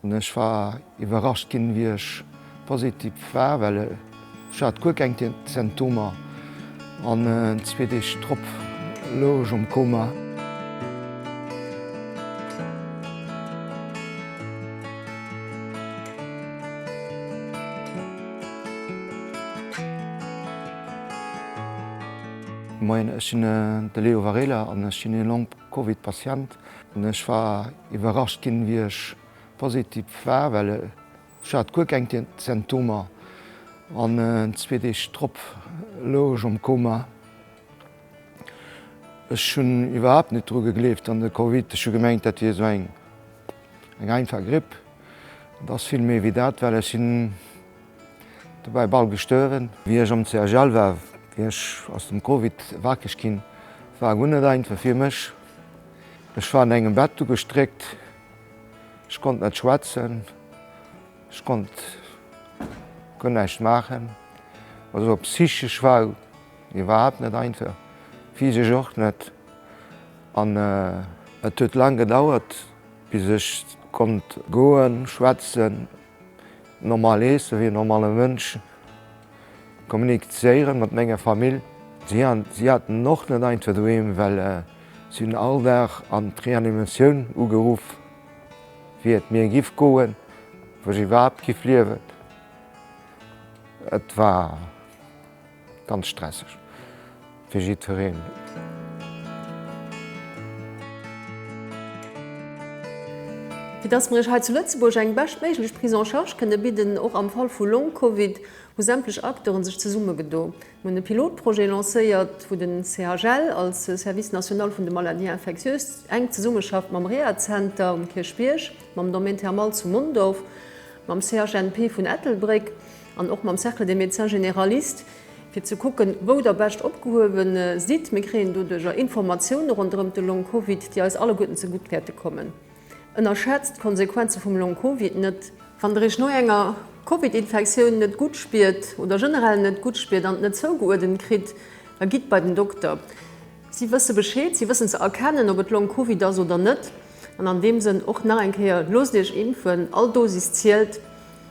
Ech war iwwerrascht ginn, wéi ech positiv war, well ech hat guer keng Symptomer an zwee Deeg drop louch ech am Koma. Moien, ech sinn de Leo Varela an ech sinn ee Long-Covid-Patient. Ech war iwwerrascht ginn, wéi ech positiv war, well ech hat guer keng Symptomer an zwee Deeg drop louch ech am Koma. Ech hunn iwwerhaapt net dru gegleeft an de Covid. Ech hu gemengt, dat wier esou eng einfach Gripp. Et ass vill méi wéi dat, well ech sinn dobäi bal gestuerwen. Wéi ech am CHL war, wéi ech aus dem Covid ewechginn, war guer net einfach fir mech. Ech war an engem Bett ugestréckt, ech konnt net schwätzen, ech konnt guer näischt maachen. Also psychesch war et iwwerhaapt net einfach, physesch och net. An et huet laang gedauert, bis ech konnt goen, schwätzen, Normal iessen, wéi en normale Mënsch kommunizéieren mat menger Famill. Si haten och net einfach doheem, well si hunn all Dag an d'Reanimatioun ugeruff, wéi et mir giff goen, ob ech iwwerhaapt giff liewen. Et war. Ganz stresseg fir jiddwereen. Fir dass mer iech hei zu Lëtzebuerg eng beschtméiglech Prise en charge kënne bidden, och am Fall vu Long-Covid, hu sämtlech Acteuren sech zesummegedo. Mir hunn e Pilotprojet lancéiert, wou den CHL als Service national vun de Maladies infectieuses enk zesummeschafft mam Rehazenter um Kierchbierg, mam Domaine thermal zu Mondorf, mam CHNP vun Ettelbréck, an och mam Cercle des médecins généralistes, fir ze kucken, wou Der bescht opgehuewe sidd. Mir kréien doduerjer Informatioune ronderëm de Long-Covid, déi eis alleguerten zegutt wäerte kommen. Ënnerschätzt d'Konsequenze vum Long-Covid net! Wann Der Iech no enger Covid-Infektioun net gutt spiert oder generell net gutt spiert an et net zougeuerdent kritt, da gitt bei den Dokter. Si wësse Bescheed, si wëssen ze erkennen, ob et Long-Covid ass oder net. An an deem Sënn och nach eng Kéier, Loosst Iech impfen, all Dosis zielt!